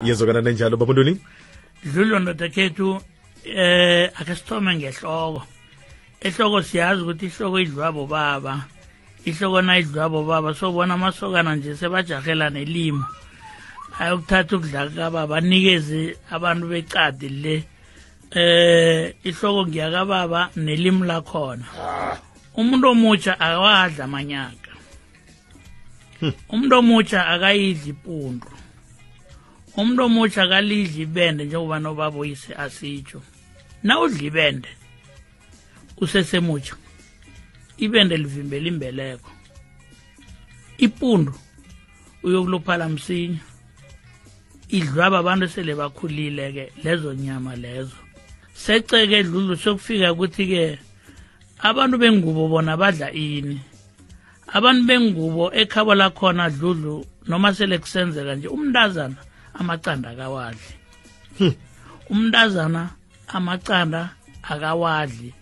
iyezokana nenjalo babuntoni dlulwa ndoda khethu eh ake sithome ngehloko ehloko siyazi ukuthi ihloko idliwa bobaba ihloko nayidliwa bobaba sobona amasokana nje sebajahela nelimo ayokuthatha ukudla kababa anikeze abantu becadi le eh ihloko ngiyakababa nelimi lakhona umuntu omutsha akawadla amanyaka hmm. umuntu omutsha akayidli ipundu umuntu omutsha akalidli ibende njengoba nobaba uyise asitsho na udla ibende usesemutsha ibende livimbela imbeleko ipundu uyokuluphala msinya idlwaba abantu esele bakhulile-ke lezo nyama lezo seceke dlulu sokufika ukuthi-ke abantu bengubo bona badla ini abantu bengubo ekhabo lakhona dludlu noma sele kusenzeka nje umntazana amacanda akawadli hmm. umntazana amacanda akawadli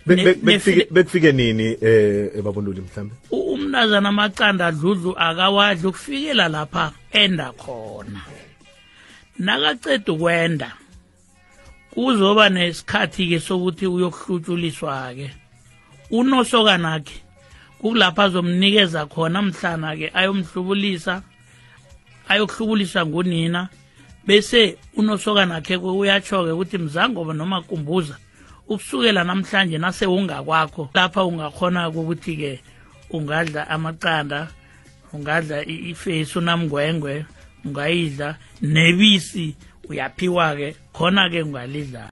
bekufike nini eh ebabonduli mhlambe umntazana amacanda dludlu akawadli ukufikela lapha enda khona nakaceda ukwenda kuzoba nesikhathi-ke sokuthi uyokuhlutshuliswa-ke unosokanakhe kukulapho azomnikeza khona mhlana-ke ayomhlubulisa ayokuhlubulisa ngunina bese unosokanakhe uyatsho-ke ukuthi mzangoba noma kumbuza ukusukela namhlanje nase ungakwakho lapha ungakhona ukuthi-ke ungadla amaqanda ungadla ifesi unamngwengwe ungayidla nebisi uyaphiwa-ke khona-ke ungalidlala